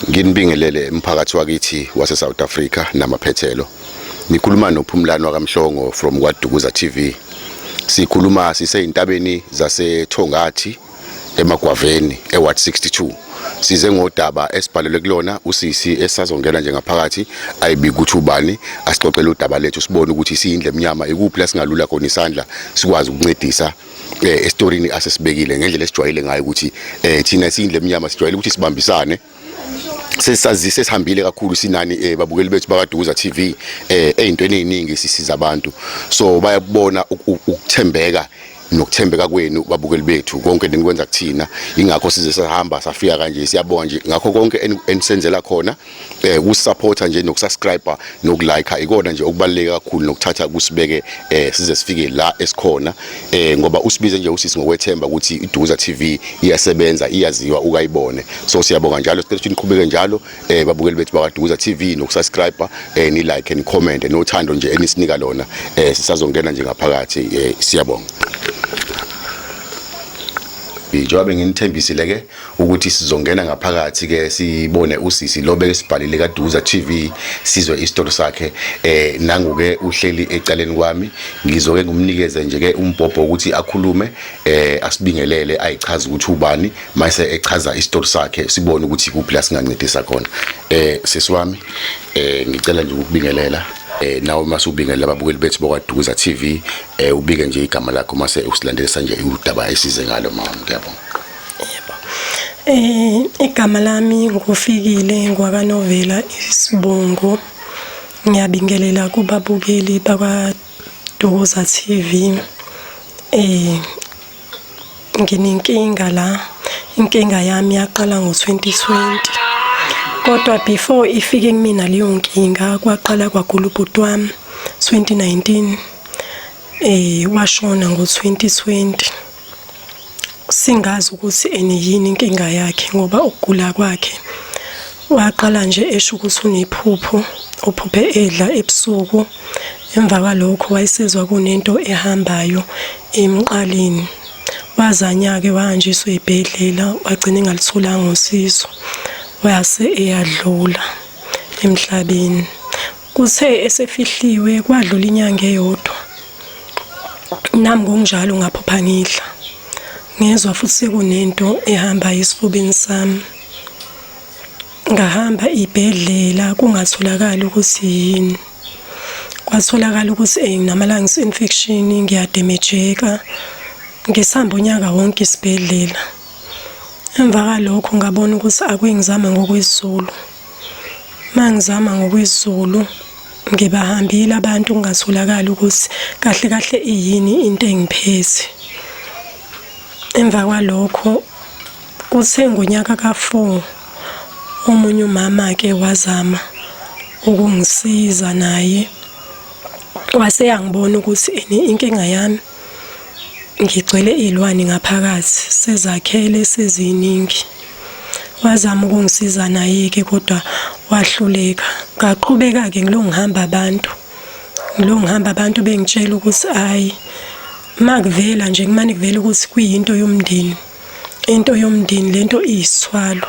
Nginibingelele umphakathi wakithi wase South Africa namaphethelo. Nikhuluma noPhumlani wakamhlongo from kwaDukuza TV. Sikhuluma siseyintabeni zaseThongathi emagwaveni eWard 62. Size ngodaba esibhalelwe kulona usisi esazongena nje ngaphakathi ayibi ukuthi ubani asixoxele udaba lethu sibone ukuthi siyindle emnyama ikuphi lasingalula khona isandla sikwazi ukuncedisa eh estorini asesibekile ngendlela esijwayele ngayo ukuthi eh thina siyindle emnyama sijwayele ukuthi sibambisane sesazise sihambile kakhulu sinani eh babukeli bethu bakaduza TV eh ezintweni eziningi sisiza abantu so bayabona ukuthembeka nokuthembeka kwenu babukeli bethu konke nikwenza kuthina ingakho size sahamba safika kanje siyabonga nje ngakho konke enisenzela khona eh kusupporta nje nokusubscriber nokulike ikona nje okubaluleke kakhulu nokuthatha kusibeke eh size sifike la esikhona eh ngoba usibize nje usisi ngokwethemba ukuthi iDuza TV iyasebenza iyaziwa ukayibone so siyabonga njalo sicela ukuthi niqhubeke njalo eh babukeli bethu bakaDuza TV nokusubscriber eh ni like and comment nothando nje enisinika lona eh sisazongena nje ngaphakathi eh siyabonga Ijobe nginithembisile ke ukuthi sizongena ngaphakathi ke sibone usisi lo bekesibhalile kaDuza TV sizwe isitori sakhe eh nanguke uhleli ecaleni kwami ngizoke ngumnikeze nje ke umbhobho ukuthi akhulume eh asibingelele ayichaza ukuthi ubani mayise echaza isitori sakhe sibone ukuthi kuphi la singancedisa khona eh sisi wami eh ngicela nje ukubingelela eh nawe uma subingelela ababukeli bethu bokwaDuza TV eh ubike nje igama lakho mase usilandelisa nje udaba esize ngalo mama ngiyabonga Eh igama lami ngufikile ngwakanovela isibongo ngiyabingelela kubabukeli bakwa Doza TV eh nginenkinga la inkinga yami yaqala ngo-2020 kodwa before ifike kumina leyo nkinga kwaqala kwagula ubhuti wami 2019 eh washona ngo-2020 singazi ukuthi eni yini inkinga yakhe ngoba ukugula kwakhe waqala nje esho ukuthi unephupho uphuphe edla ebusuku emva kwalokho wayesezwa kunento ehambayo emqaleni wazanyake wahanjiswa ey'bhedlela wagcina engalutholanga usizo wase eyadlula emhlabeni Kuthe esefihliwe kwadlula inyanga eyodwa. Nami ngokunjalo ngaphupha ngidla. Ngezwa futhi sekunento ehamba esifubeni sami. Ngahamba ibhedlela kungatholakali ukuthi yini. Kwatholakala ukuthi eh nginama-lungs infection ngiyademejeka. Ngisihamba unyaka wonke isibhedlela. Emva kwalokho ngabona ukuthi akuyingizama ngokwezulu. Mangizama ngokwezulu ngibahambile abantu kungasolakala ukuthi kahle kahle iyini into engiphethe. Emva kwalokho kuthe ngonyaka ka-4 omunye umama ke wazama ukungisiza naye wase yangibona ukuthi inkinga yami Ngigcwele iy'lwane ngaphakathi, sezakhele seziningi. Wazama ukungisiza naye-ke kodwa wahluleka. Ngaqhubeka-ke ngilokhu ngihamba abantu, ngilokhu ngihamba abantu bengitshela ukuthi hhayi, uma kuvela nje kumane kuvele ukuthi kuyinto yomndeni, into yomndeni le nto iyisithwalo.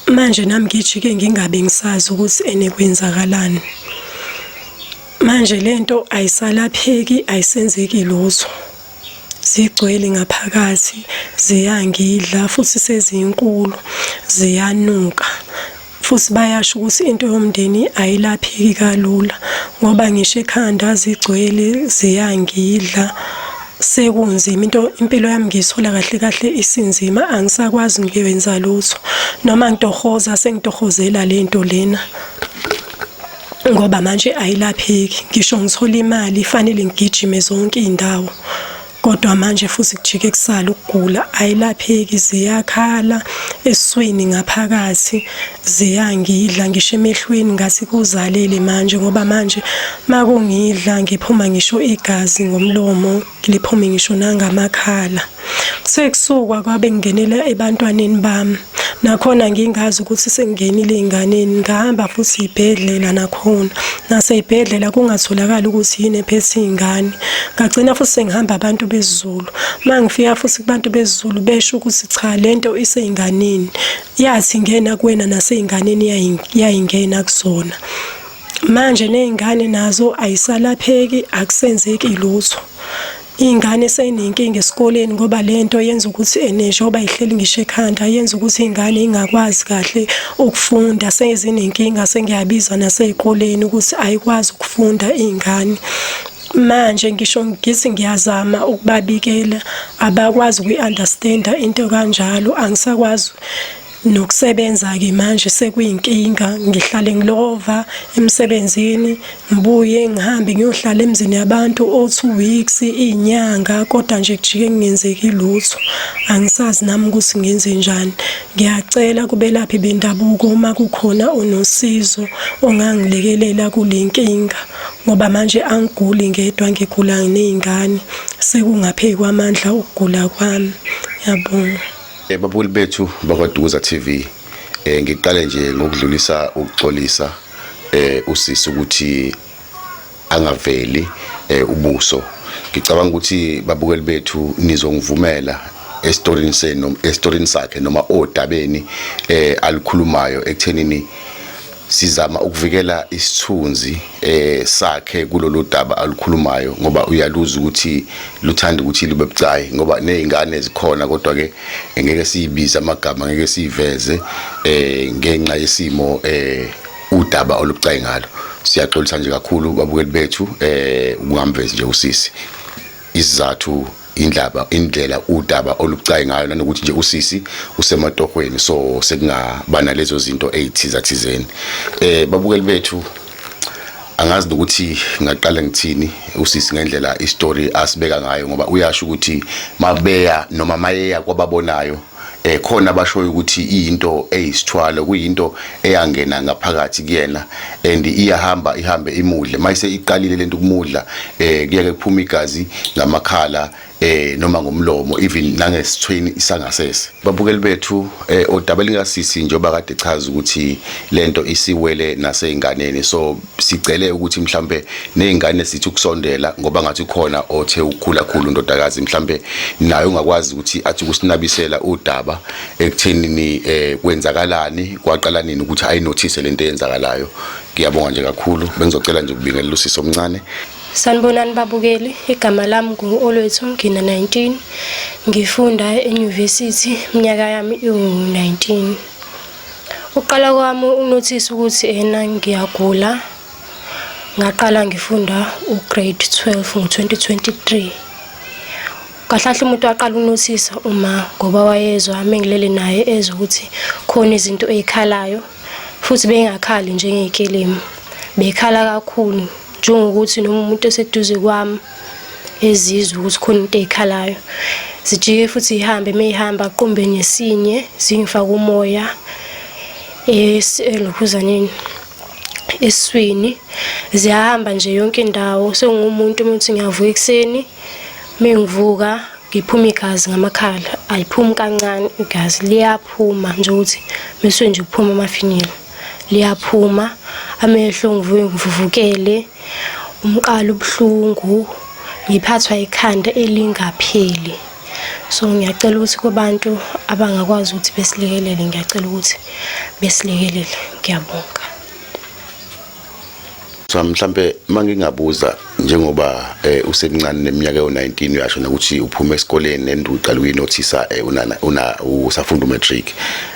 manje nami ngijike ngingabe ngisazi ukuthi ene kwenzakalani manje lento ayisalapheki ayisenzeki lutho zigcwele ngaphakathi ziyangidla futhi sezinkulu ziyanuka futhi bayasho ukuthi into yomndeni ayilapheki kalula ngoba ngisho ekhanda zigcwele ziyangidla sekunzima into impilo yami ngiyithola kahle kahle isinzima angisakwazi ngiwenza lutho noma ngitohoza sengitohozela lento lena ngoba manje ayilapheki ngisho ngithola imali ifanele ngigijime zonke izindawo kodwa manje futhi kujike kusala ukugula ayilapheki ziyakhala eswini ngaphakathi ziyangidla ngisho emehlweni ngathi kuzalele manje ngoba manje makungidla ngiphuma ngisho igazi ngomlomo liphume ngisho nangamakhala kuthe kusukwa kwabe ngingenela ebantwaneni bami nakhona ngingazi ukuthi sengingenile ey'nganeni ngahamba futhi ibhedlela nakhona nasey'bhedlela kungatholakali ukuthi yini ephethe iy'ngane ngagcina futhi sengihamba abantu bezulu uma ngifika futhi kubantu bezulu besho ukuthi cha le nto isey'nganeni yathi ngena kuwena naseyinganeni yayingena kuzona manje nezingane nazo ayisalapheki akusenzeki lutho ingane seyinenkinga esikoleni ngoba lento yenza ukuthi eneshoba ihleli ngisho ekhanda yenza ukuthi ingane ingakwazi kahle ukufunda sezinenkinga sengiyabiza nasezikoleni ukuthi ayikwazi ukufunda ingane manje ngisho ngithi ngiyazama ukubabikela abakwazi ukuyi-understanda into kanjalo angisakwazi nokusebenza-ke manje sekuyinkinga ngihlale ngilova emsebenzini ngibuye ngihambe ngiyohlala emzini yabantu o-two weeks iy'nyanga kodwa nje kujike kungenzeki lutho angisazi nami ukuthi ngenze njani ngiyacela kubelaphi bendabuko uma kukhona onosizo ongangilekelela kule nkinga ngoba manje angiguli ngedwa ngigula ney'ngane sekungaphezu kwamandla ukugula kwami yabonga eh, babukeli bethu bakwadukuza t v um ngiqale nje ngokudlulisa ukuxolisa um usisi ukuthi angaveli um ubuso ngicabanga ukuthi babukeli bethu nizongivumela esitorini senu esitorini sakhe noma odabeni eh alikhulumayo ekuthenini sizama ukuvikela isithunzi eh sakhe kulolu daba alukhulumayo ngoba uyaluza ukuthi luthanda ukuthi libe bucayi ngoba nezingane zikhona kodwa ke ngeke siyibize amagama ngeke siveze eh ngenxa yesimo eh udaba olubucayi ngalo siyaxolisa nje kakhulu babukeli bethu eh ukungamvezi nje usisi isizathu indlaba indlela udaba olubucayi ngayo nanokuthi nje usisi usematohweni so sekungaba nalezo zinto ezithiza thizeni eh babukeli bethu angazi ukuthi ngaqala ngithini usisi ngendlela istory asibeka ngayo ngoba uyasho ukuthi mabeya noma mayeya kwababonayo eh khona abashoyo ukuthi into eyisithwalo kuyinto eyangena ngaphakathi kuyena and iyahamba ihambe imudle mayise iqalile lento kumudla eh kuyeke kuphuma igazi ngamakhala eh noma ngomlomo even nangesithweni isangasese babukeli bethu eh odaba lingasisi njoba kade chaza ukuthi lento isiwele naseinganeni so sicele ukuthi mhlambe nezingane sithi ukusondela ngoba ngathi khona othe ukhula khulu ndodakazi mhlambe naye ungakwazi ukuthi athi ukusinabisela udaba ekuthenini eh kwenzakalani kwaqala nini ukuthi ayi notice lento eyenzakalayo ngiyabonga nje kakhulu bengizocela nje ukubingelela usisi omncane Sanibonani babukeli, igama lami ngu-Olwethu Ngina 19. Ngifunda e-University, iminyaka yami iwu-19. Uqala kwami unothisa ukuthi ena ngiyagula ngaqala ngifunda ugrade 12 ngo-2023 kahlahle umuntu waqala unothisa uma ngoba wayezwa amengilele naye ezwa ukuthi khona izinto ey'khalayo futhi bengakhali njengey'kelemu bekhala kakhulu njengokuthi noma umuntu eseduze kwami ezizwe ukuthi khona into ezikhalayo zijike futhi ihambe meyihamba qumbe nesinye zingifaka umoya elokhuzaneni eswini ziyahamba nje yonke indawo sengumuntu umuntu ngiyavuka ekuseni mengivuka ngiphuma igazi ngamakhala ayiphumi kancane igazi liyaphuma nje ukuthi bese nje kuphuma amafinyila liyaphuma amehlo ngivuke ngivuvukele umqala ubuhlungu ngiphathwa ikhanda elingapheli so ngiyacela ukuthi kubantu abangakwazi ukuthi besilekelele ngiyacela ukuthi besilekelele ngiyabonga Sami mhlambe mangingabuza njengoba eh, usemncane neminyaka yo19 uyasho nokuthi uphuma esikoleni nendu uqala ukuyinothisa eh, unana una usafunda umatric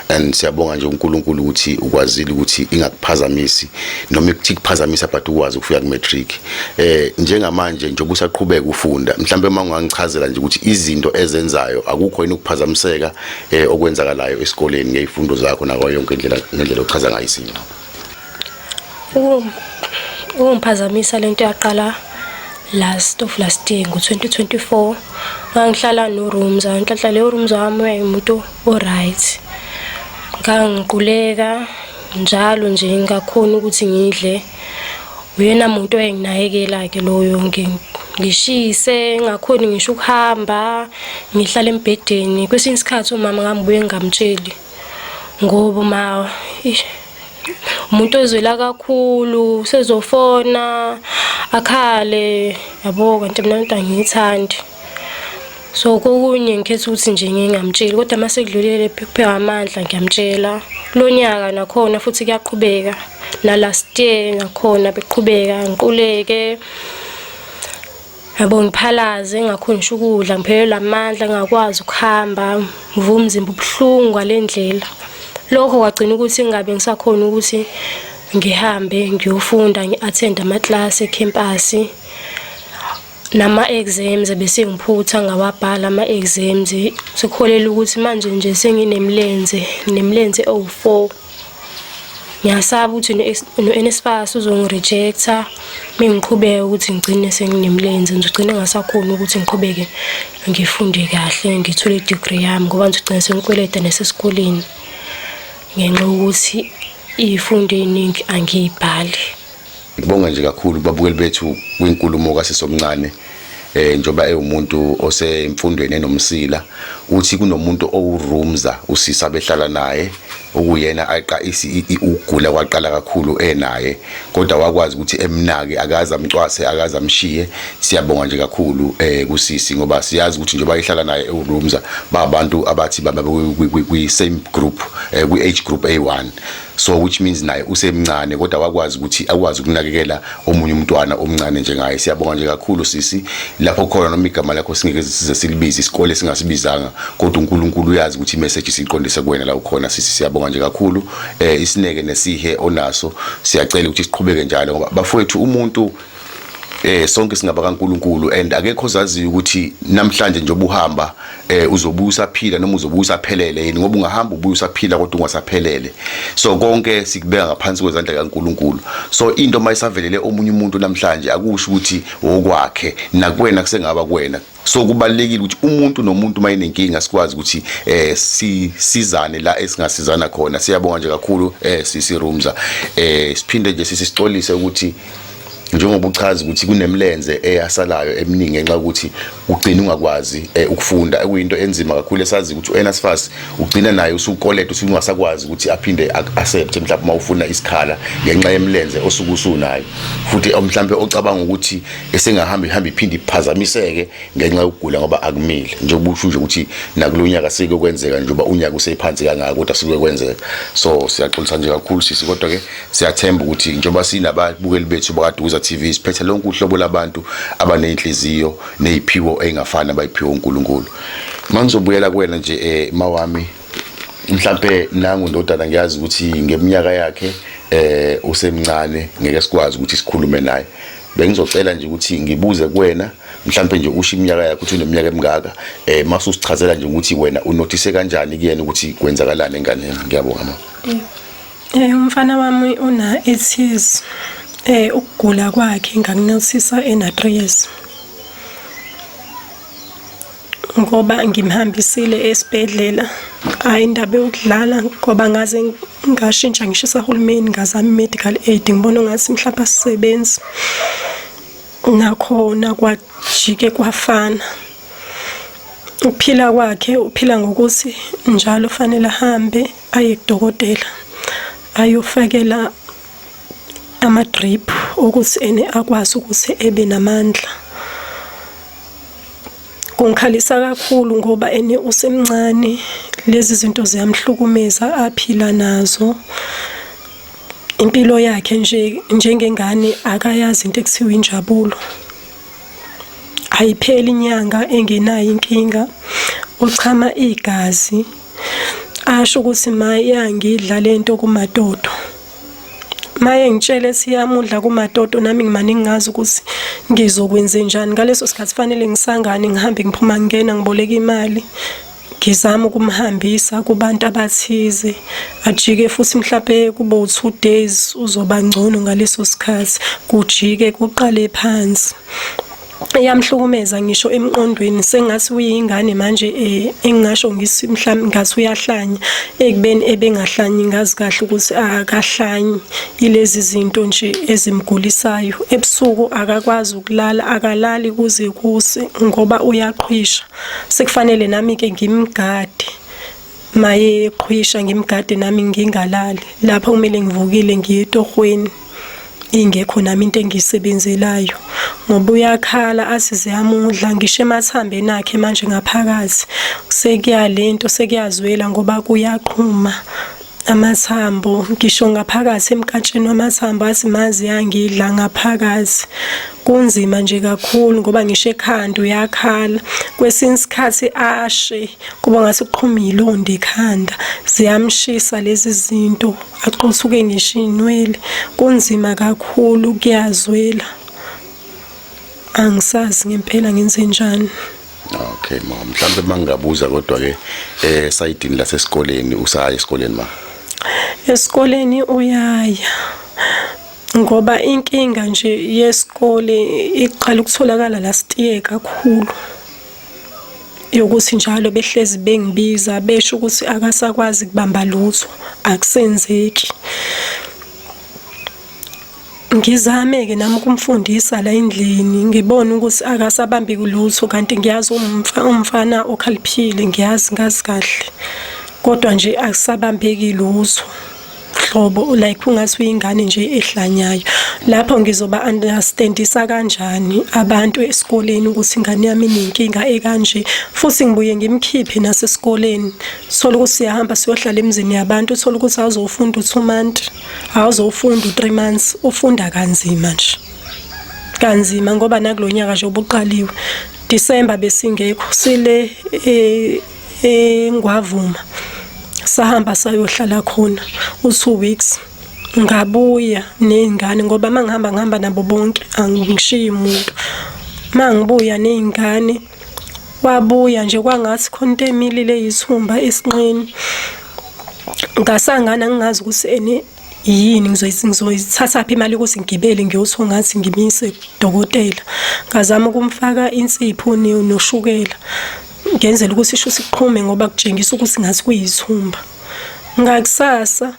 and siyabonga nje uNkulunkulu ukuthi ukwazile ukuthi ingakuphazamisi noma ikuthi kuphazamisa but ukwazi ukufika kumatric eh njengamanje njengoba usaqhubeka ufunda mhlambe uma ungangichazela nje ukuthi izinto ezenzayo akukho yini ukuphazamiseka eh, okwenzakalayo esikoleni ngezifundo zakho nakho yonke indlela ngendlela ochaza ngayo izinto ukungiphazamisa lento yaqala last of last year ngo-2024 ngangihlala norooms ngihlahla leyo rooms wami uyayimuntu o-right ngangiquleka njalo nje ngingakhoni ukuthi ngidle uyena muntu oyenginakekela-ke loyo ngishise ngakhoni ngisho ukuhamba ngihlale embhedeni kwesinye isikhathi umama ngambuye ngingamtsheli ngoba ma umuntu ozwela kakhulu sezofona akhale yabo kanti mina into angiyithandi so kokunye ngikhetha ukuthi nje ngingamtsheli kodwa uma sekudlulele phephewa amandla ngiyamtshela kulo nyaka nakhona futhi kuyaqhubeka nalast year nakhona beqhubeka ngiquleke yabo ngiphalaze ngakhonisha ukudla ngiphelelwa amandla ngakwazi ukuhamba ngivuka umzimba ubuhlungu ngale ndlela lokho kwagcina ukuthi ngingabe ngisakhona ukuthi ngihambe ngiyofunda ngi-athende amaklasi ekhempasi nama-exams ebesengiphutha ngawabhala ama-exams sekuholela ukuthi manje nje senginemilenze nemilenze ewu-four ngiyasaba ukuthi no-NSFAS uzongirejecta uma ngiqhubeke ukuthi ngigcine senginemlenze ngizogcine ngasakhona ukuthi ngiqhubeke ngifunde kahle ngithole i-degree yami ngoba ngizogcine sengikweleta nasesikoleni ngenxa yokuthi iyifunde eyiningi angiyibhali Ngibonga nje kakhulu kubabukeli bethu kwinkulumo kasisi omncane eh njoba ewumuntu osemfundweni enomsila uthi kunomuntu owurumza usisa behlala naye okuyena aqa ukugula kwaqala kakhulu enaye kodwa wakwazi ukuthi emnake akaze amcwase akaze amshiye siyabonga nje kakhulu eh kusisi ngoba siyazi ukuthi njengoba ihlala naye ewurumza babantu abathi baba kwi same group eh, kwi age group A1 so which means naye usemncane kodwa wakwazi ukuthi akwazi ukunakekela omunye umntwana omncane njengaye siyabonga nje kakhulu sisi lapho khona noma igama lakho singeke size silibize isikole singasibizanga kodwa uNkulunkulu uyazi ukuthi imessage siqondise kuwena la ukhona sisi siyabonga nje kakhulu eh isineke nesihe onaso siyacela ukuthi siqhubeke njalo ngoba bafowethu umuntu eh sonke singaba kaNkuluNkulu and akekho ozaziyo ukuthi namhlanje nje obuhamba eh uzobuya usaphila noma uzobuya usaphelele yini ngoba ungahamba ubuya usaphila kodwa ungasaphelele so konke sikubeka ngaphansi kwezandla kaNkuluNkulu so into mayisavelele omunye umuntu namhlanje akusho ukuthi wokwakhe nakwena kusengaba kwena so kubalekile ukuthi umuntu nomuntu uma enenkinga sikwazi ukuthi eh sisizane la esingasizana khona siyabonga nje kakhulu eh sisi Rumza eh siphinde nje sisi sicolise ukuthi njengoba uchaza ukuthi kunemlenze eyasalayo eminingi ngenxa ukuthi ugcina ungakwazi eh, ukufunda ekuyinto enzima kakhulu esazi ukuthi uNSFAS ugcina naye usukoleta usungasakwazi ukuthi aphinde accept mhlawumbe uma ufuna isikhala ngenxa yemlenze osukusunayo futhi mhlawumbe ocabanga ukuthi esingahamba ihamba iphinde iphazamiseke ngenxa yokugula ngoba akumile njengoba usho nje ukuthi nakulonyaka sike kwenzeka nje uba unyaka usephansi kangaka kodwa sike kwenzeka so siyaxolisa nje kakhulu sisi kodwa ke siyathemba ukuthi njengoba sinababukeli bethu bakadukuza TV siphethe lonke uhlobo labantu abanenhliziyo neziphiwo engafani abayiphiwa uNkulunkulu mangizobuyela kuwena nje eh mawami mhlambe nangu ndodana ngiyazi ukuthi ngeminyaka yakhe eh usemncane ngeke sikwazi ukuthi sikhulume naye bengizocela nje ukuthi ngibuze kuwena mhlawumbe nje usho iminyaka yakho ukuthi uneminyaka emingaka eh mase usichazela nje ukuthi wena unothise kanjani kuyena ukuthi kwenzakalani enganeni ngiyabonga mama eh umfana wami una 8 years eh ukugula kwakhe ngakunothisa ena 3 years ngoba ngimhambisile esibhedlela hhayi indaba yokudlala ngoba ngaze ngashintsha ngisho esahulumeni ngazama i-medical aid ngibona ngathi mhlawumbe asisebenzi nakhona kwajike kwafana ukuphila kwakhe uphila ngokuthi njalo fanele ahambe aye kudokotela ayofakela ama-drip ukuthi ene akwazi ukuthi ebe namandla kungikhalisa kakhulu ngoba ene usemncane lezi zinto ziyamhlukumeza aphila nazo impilo yakhe nje njengengane akayazi into ekuthiwa injabulo ayipheli inyanga engenayo inkinga uchama igazi asho ukuthi mayangidla lento kumadodo maye ngitshele siyamudla kumatoto nami ngimane ngingazi ukuthi ngizokwenze njani ngaleso sikhathi fanele ngisangane ngihambe ngiphuma ngingena ngiboleka imali ngizama ukumhambisa kubantu abathize ajike futhi mhlawumbe kube u-two days uzoba ngcono ngaleso sikhathi kujike kuqale phansi eyamhlukumeza ngisho emqondweni sengathi uyingane manje eh, engingasho ngisi mhlawumbe ngathi uyahlanya ekubeni ebengahlanyi ngazi kahle ukuthi akahlanyi ilezi zinto nje ezimgulisayo ebusuku akakwazi ukulala akalali kuze kuse ngoba uyaqhwisha sekufanele nami ke ngimgade maye qhwisha ngimgade nami ngingalali lapho kumele ngivukile ngiye etohweni ingekho nami into engiyisebenzelayo ngoba uyakhala athi ziyamudla ngisho emathambeni akhe manje ngaphakathi sekuya lento sekuyazwela ngoba kuyaqhuma amathambo ngisho ngaphakathi emkatsheni wamathambo athi mazi yangidla ngaphakathi kunzima nje kakhulu ngoba ngisho ekhanda uyakhala kwesinye isikhathi ashe kuba ngase kuqhuma ilonda ekhanda ziyamshisa lezi zinto axosuke ngisho inwele kunzima kakhulu kuyazwela angisazi ngempela ngenze njani okay ma mhlawumbe mangingabuza kodwa ke eh sayidini lasesikoleni usaya esikoleni ma esikoleni uyaya ngoba inkinga nje yesikole iqala ukutholakala last year kakhulu yokuthi njalo behlezi bengibiza besho ukuthi akasakwazi kubamba lutho akusenzeki ngizame-ke nami ukumfundisa la endlini ngibone ukuthi akasabambi kulutho kanti ngiyazi umfana okhaliphile ngiyazi ngazi kahle kodwa nje akusabambeki lutho hlobo like ungathi uyingane nje ehlanyayo lapho ngizoba understandisa kanjani abantu esikoleni ukuthi ingane yami inenkinga ekanje futhi ngibuye ngimkhiphe nasesikoleni thola ukuthi siyahamba siyohlala emzini yabantu thola ukuthi awuzofunda u2 months awuzofunda u3 months ufunda kanzima nje kanzima ngoba nakulonyaka nje obuqaliwe December besingekho sile eh engwavuma sahamba sayohlala khona u2 weeks ngabuya nezingane ngoba mangihamba ngihamba nabo bonke angishiyi umuntu mangibuya nezingane wabuya nje kwangathi khona into emilile yisihumba esinqeni ngasangana ngingazi ukuthi ene yini ngizoyithatha phi imali ukuthi ngigibele ngiyothiwa ngathi ngimise dokotela ngazama ukumfaka insipho noshukela Ngenzela ukuthi isho siqhume ngoba kutshengisa ukuthi ngathi kuyithumba. Ngakusasa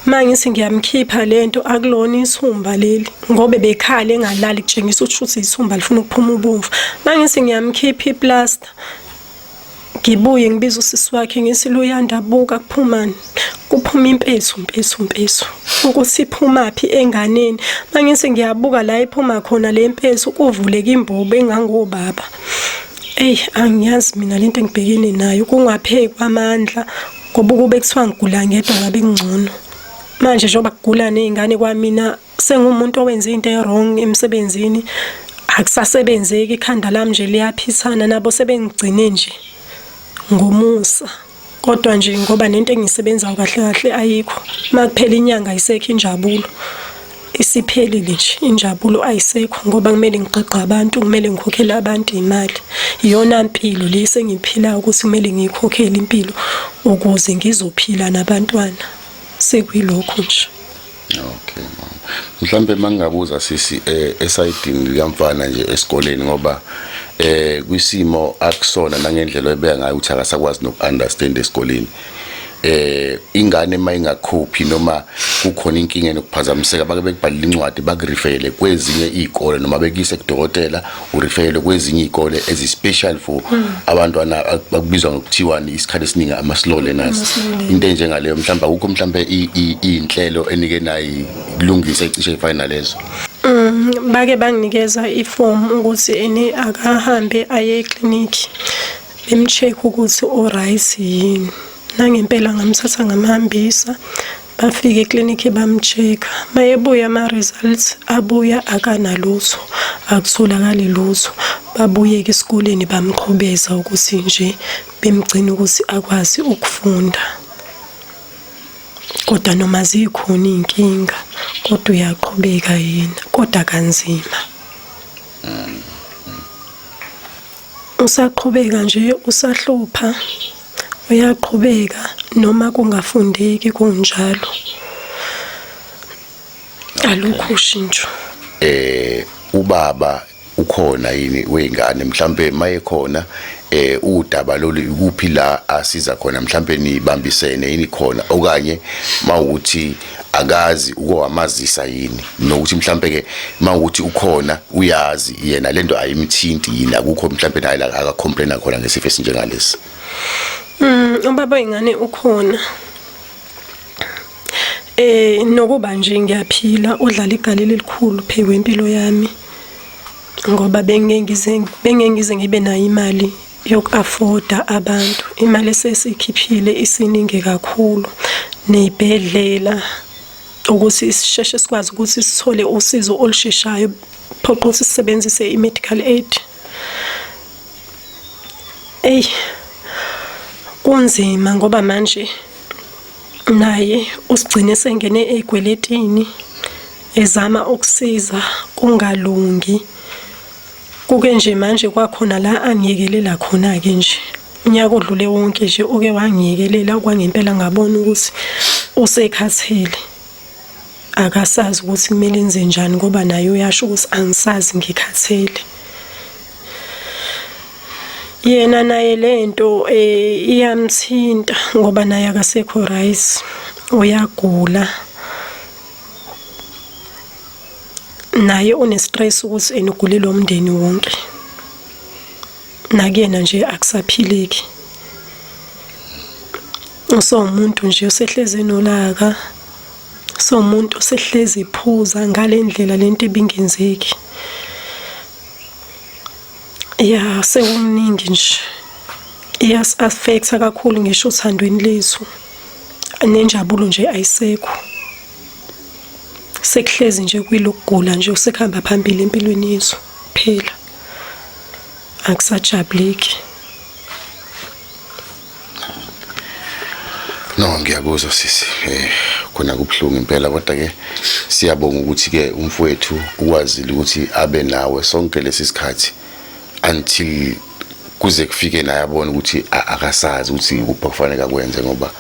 mangithi ngiyamkhipha lento akulona isihumba leli ngoba bekhale engalali kutshengisa ukuthi uthi isihumba lifuna ukuphuma ubomvu mangithi ngiyamkhipha iplaster ngibuye ngibiza usisi wakhe ngithi luyandabuka kuphumani kuphuma impesu mpesu mpesu ukuthi iphumaphi enganeni mangithi ngiyabuka la iphuma khona le mpesu kuvuleka imbobo engangobaba Eyi angiyazi mina lento engibhekene nayo kungapheki kwamandla ngoba ukube kuthiwa ngigula ngedwa ngabe kungcono manje njengoba kugula nezingane kwamina sengumuntu owenze into ewrong emsebenzini akusasebenzeki ikhanda lami nje liyaphithana nabo sebengigcine nje ngomusa kodwa nje ngoba nento engisebenzayo kahle kahle ayikho makuphela inyanga ayisekho injabulo isiphelile nje injabulo ayisekho ngoba kumele ngigqigqa abantu kumele ngikhokhele abantu imali iyona mpilo le sengiphilayo ukuthi kumele ngiyikhokhele impilo ukuze ngizophila nabantwana sekuyilokho nje Okay mama. Mhlambe mangingabuza sisi eh esayidini likamfana nje esikoleni ngoba eh kwisimo akusona nangendlela oyibeka ngayo ukuthi akasakwazi nokuunderstand esikoleni. Eh ingane uma ingakhophi noma kukhona inkinga nokuphazamiseka bake bekubhalile incwadi bakurifele kwezinye izikole noma bekuyise kudokotela urifele kwezinye iy'kole ezi-special for hmm. abantwana bakubizwa ngokuthiwani isikhathi esiningi amasilole nazi into enjengaleyo mhlawumbe akukho mhlawumbe iy'nhlelo enike nayi kulungisa icishe ifayina lezo um hmm, bake banginikeza ifomu ukuthi eni akahambe aye eklinikhi bemcheck ukuthi o-right yini nangempela ngamthatha ngamhambisa bafike eklinikhi bamcheck mayebuya ama-results abuya akanalutho akutholakali lutho babuyeke esikoleni bamqhubeza ukuthi nje bemgcina ukuthi akwazi ukufunda kodwa noma zikhona iy'nkinga kodwa uyaqhubeka yena kodwa kanzima mm. Usaqhubeka nje usahlupha uyaqhubeka noma kungafundeki kunjalo. Alukho ushintsho. Eh ubaba ukhona yini weyingane mhlambe mayekhona eh udaba lolu ikuphi la asiza khona mhlambe nibambisene yini khona okanye mawuthi akazi uko wamazisa yini nokuthi mhlambe ke mawukuthi ukhona uyazi yena lento ayimthinti yini akukho mhlambe naye la aka complain khona ngesifo esinjengalesi mm ubaba ingane ukhona eh nokuba nje ngiyaphila udlala igalelo elikhulu phe wempilo yami ngoba bengengize bengengize ngibe nayo imali yoku-afoda abantu imali esesikhiphile isiningi kakhulu ney'bhedlela ukuthi sisheshe sikwazi ukuthi sithole usizo olusheshayo phoqa ukuthi sisebenzise i-medical aid eyi kunzima ngoba manje naye usigcine sengene ey'kweletini ezama ukusiza kungalungi Kuke nje manje kwakhona la angiyekelela khona-ke nje unyaka odlule wonke nje uke wangiyekelela kwangempela ngabona ukuthi usekhathele akasazi ukuthi kumele enze njani ngoba naye uyasho ukuthi angisazi ngikhathele yena naye lento eh iyamthinta ngoba naye akasekho right uyagula naye unestress ukuthi enugulile umndeni wonke nakuyena nje akusaphileki usawumuntu nje osehlezi enolaka sawumuntu osehlezi iphuza ngale ndlela lento ebingenzeki ya sewumningi nje iyas-affecta kakhulu ngisho othandweni lethu nenjabulo nje ayisekho sekuhlezi nje kwilokugula nje usekuhamba phambili empilweni yethu phela akusajabuleki No ngiyakuzwa sisi eh khona kubhlungu impela kodwa ke siyabonga ukuthi ke umfowethu ukwazile ukuthi abe nawe sonke lesi sikhathi until kuze kufike naye abone ukuthi akasazi ukuthi kuphi kufanele akwenze ngoba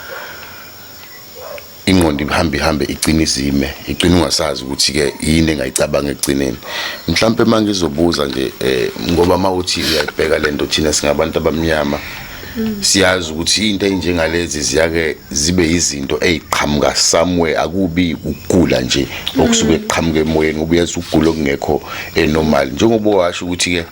ingqondo ihambe ihambe igcine izime igcine ungasazi ukuthi ke yini engayicabanga ekugcineni mhlawumbe uma ngizobuza nje um ngoba uma uthi uyayibheka le nto thina singabantu abamnyama siyazi ukuthi into enjengalezi ziyake zibe izinto eziqhamuka somewhere akubi ukugula nje okusuke kuqhamuka emoyeni ubuyazi ukugula okungekho enormal njengoba washo ukuthi ke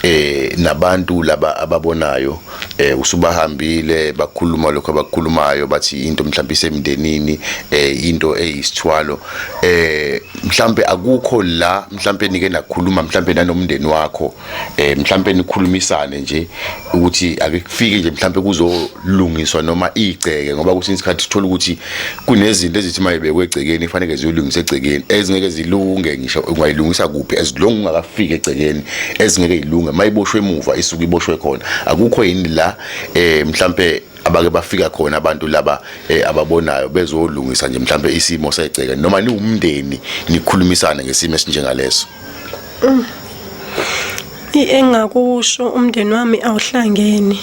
eh nabantu laba ababonayo eh usubahambile bakhuluma lokho abakhulumayo bathi into mhlawumbe isemndenini eh into eyisithwalo eh mhlawumbe akukho la mhlawumbe nike nakhuluma mhlawumbe nanomndeni wakho eh mhlawumbe nikhulumisane nje ukuthi akufike nje mhlawumbe kuzolungiswa noma igceke ngoba kusinye isikhathi sithola ukuthi kunezinto ezithi uma ibekwe egcekeni kufanele ziyolungisa egcekeni ezingeke zilunge ngisho ungayilungisa kuphi as long ungakafiki egcekeni ezingeke ilunge uma iboshwe emuva isuke iboshwe khona akukho yini la eh mhlambe abake bafika khona abantu laba eh, ababonayo bezolungisa nje mhlambe isimo segceke noma niwumndeni nikhulumisane ngesimo esinjengaleso mm. engakusho umndeni wami awuhlangene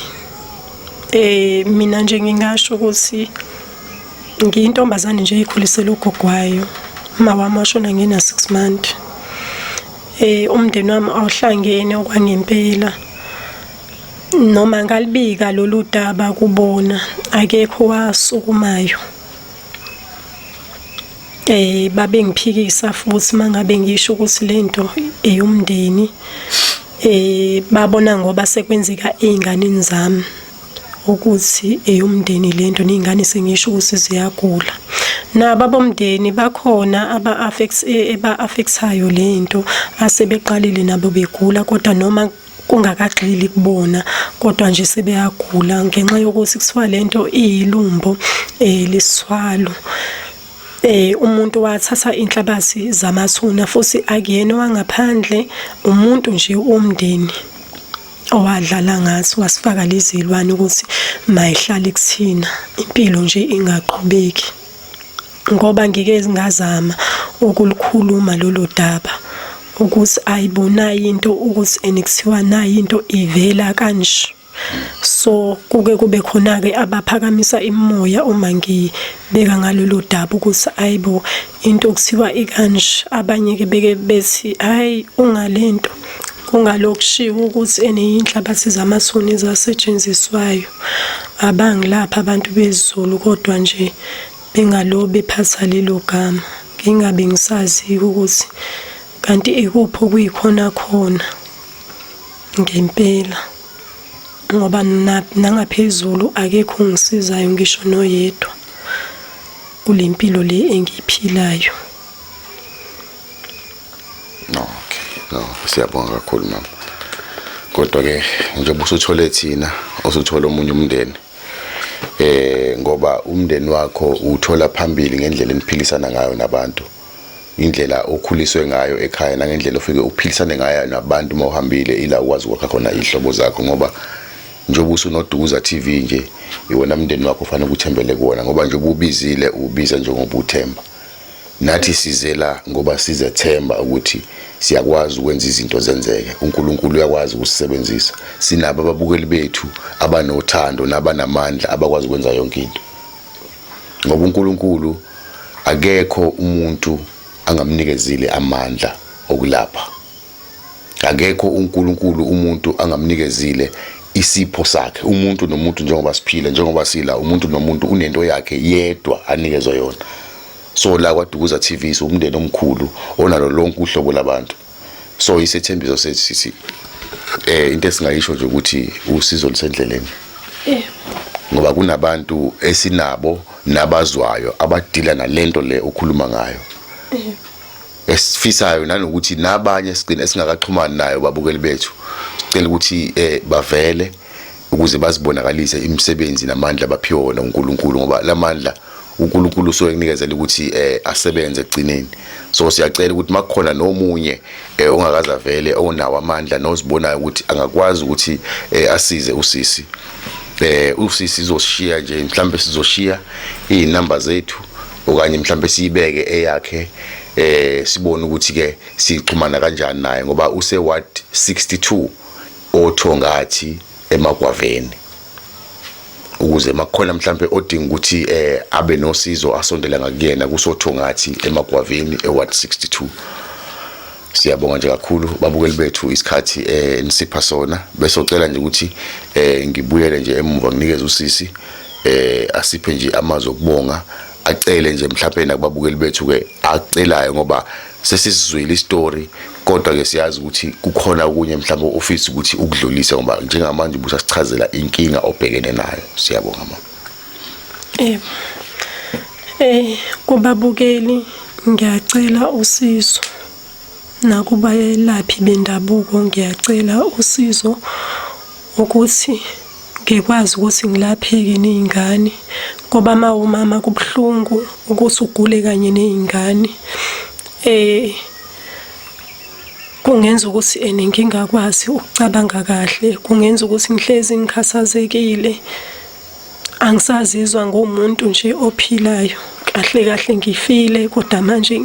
eh mina nje ngingasho ukuthi ngiyintombazane nje ikhulisela ugogwayo uma wami washona ngina 6 month eh umndeni wami awuhlangene okwangempela noma ngalibika lolu daba kubona akekho wasukumayo eh babengiphikisa futhi mangabe ngisho ukuthi lento eyomndeni eh babona ngoba sekwenzeka einganeni zami ukuthi eyomndeni lento ney'ngane sengisho ukuthi ziyagula nabo abomndeni bakhona aba-affecthayo eh, le nto asebeqalile nabo begula kodwa noma kungakagxili kubona kodwa nje sebeyagula ngenxa yokuthi kuthiwa le nto iyilumbo um eh, lisiswalo eh umuntu wathatha inhlabathi zamathuna futhi akuyena wangaphandle umuntu nje womndeni owadlala ngathi wasifaka lizilwane ukuthi mayihlale kuthina impilo nje ingaqhubeki ngoba ngike ngazama ukulukhuluma lolu daba ukuthi ayibonayo into ukuthi enikuthiwa nayo into ivela kanje so kuke kube khona ke abaphakamisa imoya uma ngibeka ngalolu daba ukuthi ayibo into okuthiwa ikanje abanye ke beke bethi hayi ungalento Kungalokushiwo ukuthi eneyinhlabathi zamathuni ezasetshenziswayo abangilapha abantu bezulu kodwa nje bengalobe phatha lelo gama ngingabe ngisazi ukuthi kanti ikuphi okuyikhona khona ngempela ngoba nangaphezulu akekho ngisizayo ngisho noyedwa kulempilo le engiyiphilayo Okay, no, siyabonga kakhulu mama. Kodwa ke njengoba usuthole thina, usuthole omunye umndeni. Eh ngoba umndeni wakho uthola phambili ngendlela eniphilisana ngayo nabantu. Indlela okhuliswe ngayo ekhaya nangendlela ofike uphilisane ngayo nabantu uma uhambile ila ukwazi ukwakha khona ihlobo zakho ngoba njengoba usunoduza TV nje iwona mndeni wakho ufanele ukuthembele kuwona ngoba njengoba ubizile ubiza njengoba uthemba Nathi size la ngoba sizethemba ukuthi siyakwazi ukwenza izinto zenzeke. UNkulunkulu uyakwazi ukusisebenzisa. Sinabo ababukeli bethu abanothando nabanamandla abakwazi ukwenza yonke into. Ngoba uNkulunkulu akekho umuntu angamnikezile amandla okulapha. akekho uNkulunkulu umuntu angamnikezile isipho sakhe umuntu nomuntu njengoba siphila njengoba sila umuntu nomuntu unento yakhe yedwa anikezwe yona so la kwadukuza TV siwumndeni omkhulu onalo lonke uhlobo labantu so isethembiso sethu sithi eh into esingayisho nje ukuthi usizo lisendleleni eh ngoba kunabantu esinabo nabazwayo abadila nalento le ukhuluma ngayo eh esifisayo nanokuthi nabanye sigcina esingakaxhumani nayo babukeli bethu sicela ukuthi eh bavele ukuze bazibonakalise imisebenzi namandla abaphiwe wona uNkulunkulu ngoba lamandla uNkulunkulu usuke enikezela ukuthi eh asebenze egcineni so siyacela ukuthi makukhona nomunye eh ongakaza vele onawo amandla nozibonayo ukuthi angakwazi ukuthi eh asize usisi eh usisi izoshiya nje mhlambe sizoshiya izinamba zethu okanye mhlawumbe siyibeke eyakhe eh sibone ukuthi ke sixhumana kanjani naye ngoba use ward 62 othongathi emagwaveni ukuze makukhona mhlambe odinga ukuthi eh abe nosizo asondela ngakuyena kusothongathi emagwaveni eward 62 Siyabonga nje kakhulu babukeli bethu isikhathi eh nisipha sona bese ucela nje ukuthi eh ngibuyele nje emuva nginikeze usisi eh asiphe nje amazwi okubonga acele nje mhlawumbe nakubabukeli bethu ke acelayo ngoba sesisizwile istory kodwa ke siyazi ukuthi kukhona okunye mhlawumbe ofisi ukuthi ukudlulise ngoba njengamanje ubusasichazela inkinga obhekene nayo siyabonga mama Eh, eh kubabukeli ngiyacela usizo nakubayelaphi bendabuko ngiyacela usizo ukuthi ngikwazi ukuthi ngilapheke nezingane ngoba mawumama kubuhlungu ukuthi ugule kanye nezingane eh kungenza ukuthi ene ngingakwazi ukucabanga kahle kungenza ukuthi ngihlezi ngikhathazekile angisazizwa ngumuntu nje ophilayo kahle kahle ngifile kodwa manje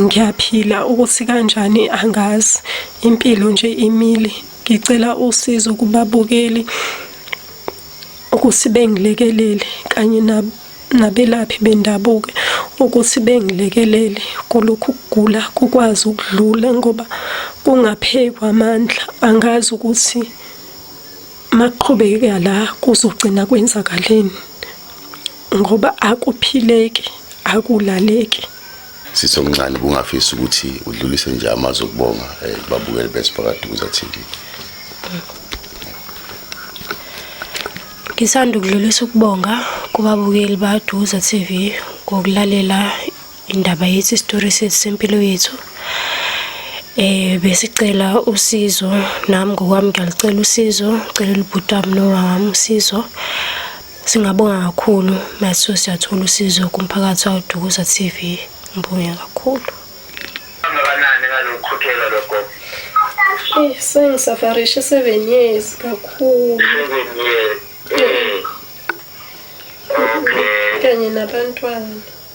ngiyaphila ukuthi kanjani angazi impilo nje imile ngicela usizo kubabukeli ukuthi bengilekelele kanye nabelaphi bendabuko ukuthi bengilekelele kulokhu kugula kukwazi ukudlula ngoba kungaphekwa amandla angazi ukuthi Maqhubeka la kuzogcina kwenzakaleni ngoba akuphileki akulaleki sithi omncane bungafisi ukuthi udlulise nje amazwi okubonga eh, babukeli besiphakathi kuza TV Ngisanda ukudlulisa ukubonga kubabukeli baDuza TV ngokulalela Indaba yethu isitori sethu sempilo yethu eh besicela usizo nami ngokwami ngiyalicela usizo ngicela ubhuti wami nowami usizo singabonga kakhulu maso siyathola usizo kumphakathi wadukuza TV ngibonge kakhulu kangakanani ngalokhuthela lokho Eh sengisafarishe 7 years kakhulu 7 years eh. okay kanye nabantwana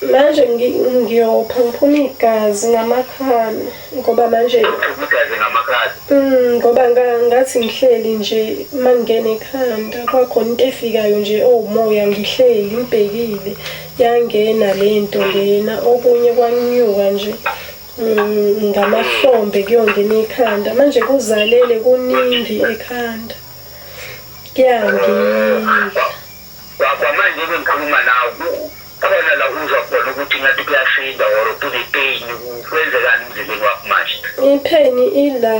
Manje ngiyopha ngiphuma igazi ngamakhala ngoba manje mm, ngoba ngathi ngihleli nje uma ngingena ekhanda kwakhona into efikayo nje owumoya ngihleli ngibhekile yangena le nto lena okunye kwanyuka nje mm, ngamahlombe kuyongena ikhanda manje kuzalele kuningi ekhanda kuyangila Kwamanje-ke ngikhuluma nawe kukhona la uzwa khona ukuthi ngathi kuyasinda or kune-pain kwenzekani emzimbeni wakho manje ipheni ila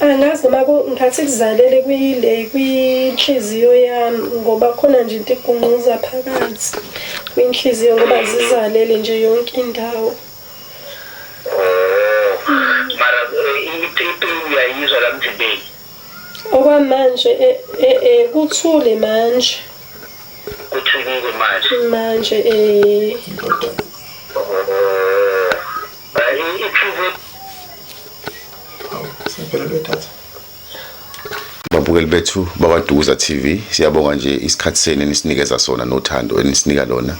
angazi noma ngathi kuzalele kwile kwinhliziyo yami ngoba khona nje into igungquza phakathi kwinhliziyo ngoba zizalele nje yonke indawo oh, mara eh, ipeni uyayizwa la mzimbeni Okwamanje e, e, e, kuthule manje. Kuthulile manje. Manje eh. Bayi iphile. Awu, sempela bedatha. babukeli bethu bakwadukuza tv siyabonga nje isikhathi senu enisinikeza sona nothando enisinika lona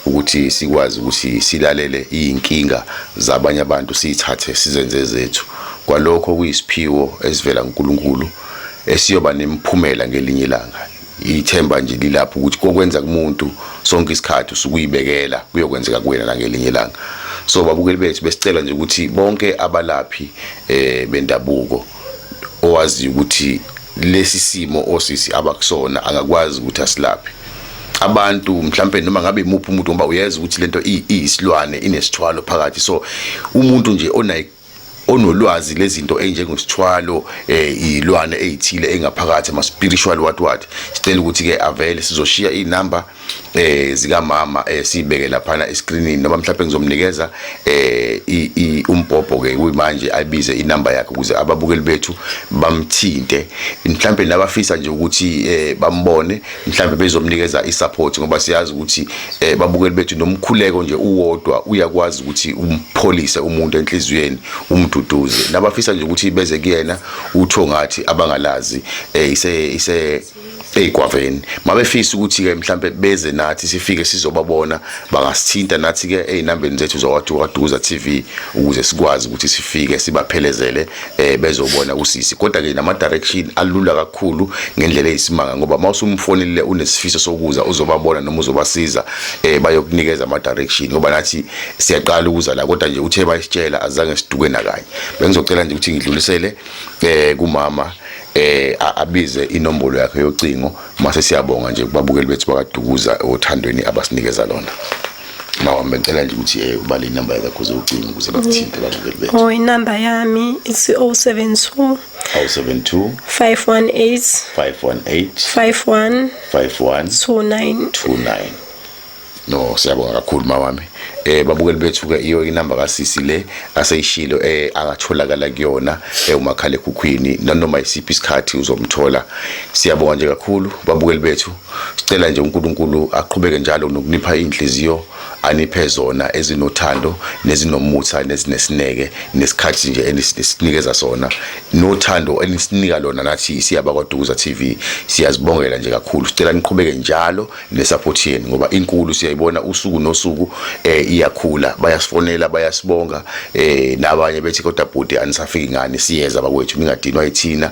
ukuthi sikwazi ukuthi silalele iy'nkinga zabanye abantu siyithathe sizenze zethu kwalokho okuyisiphiwo esivela kuNkulunkulu esiyoba nemiphumela ngelinye ilanga ithemba nje lilapho ukuthi kokwenza kumuntu sonke isikhathi usukuyibekela kuyokwenzeka kuwena nangelinye ilanga so babukeli bethu besicela nje ukuthi bonke abalaphi eh bendabuko owazi ukuthi lesi simo osisi abakusona angakwazi ukuthi asilaphe abantu mhlambe noma ngabe imuphi umuntu ngoba uyeza ukuthi lento iyisilwane inesithwalo phakathi so umuntu nje onayi onolwazi lezinto enjengosithwalo eh izilwane ezithile engaphakathi ama spiritual what what sicela ukuthi ke avele sizoshiya inumber eh zika mama eh sibeke lapha e screenini noma mhlawumbe ngizomnikeza eh i umbhobho ke kuyimanje ayibize inumber yakhe ukuze ababukeli bethu bamthinte mhlawumbe nabafisa nje ukuthi eh bambone mhlawumbe bezomnikeza isupport ngoba siyazi ukuthi eh, babukeli bethu nomkhuleko nje uwodwa uyakwazi ukuthi umpholise umuntu enhliziyweni umduduze nabafisa nje ukuthi beze kuyena utho ngathi abangalazi eh, ise ise eyigwaveni mabefisa ukuthi ke mhlambe beze nathi sifike sizobabona bangasithinta nathi ke ezinambeni zethu zokwadukaduza TV ukuze sikwazi ukuthi sifike sibaphelezele eh bezobona usisi kodwa ke nama direction alula kakhulu ngendlela eyisimanga ngoba mawusumfonelile unesifiso sokuza uzobabona noma uzobasiza eh bayokunikeza ama direction ngoba nathi siyaqala ukuza la kodwa nje uthe bayisitshela azange siduke nakanye bengizocela nje ukuthi ngidlulisele eh kumama eh abize inombolo yakhe yocingo mase siyabonga nje kubabukeli bethu bakadukuza othandweni abasinikeza lona Lawa ngicela nje ukuthi eh ubale inamba yakho ze ucinga ukuze bakuthinte mm. abantu bebe. Oh inamba yami is 072 072 518 518 51 51 29 29 no siyabonga kakhulu mawami eh babukeli bethu ke iyo inamba kasisi le aseyishilo eh akatholakala kuyona eh umakhalekhukhwini nanoma isiphi isikhathi uzomthola siyabonga nje kakhulu babukeli bethu Sicela nje uNkulunkulu aqhubeke njalo nokunipha inhliziyo aniphe zona ezinothando nezinomutha nezinesineke nesikhathi nje enisinikeza sona nothando enisinika lona nathi siyaba kwaDukuza TV siyazibongela nje kakhulu sicela niqhubeke njalo nesupport yenu ngoba inkulu siyayibona usuku nosuku eh iyakhula bayasifonela bayasibonga eh nabanye bethi kodwa bhuti anisafiki ngani siyeza bakwethu ningadinwa yithina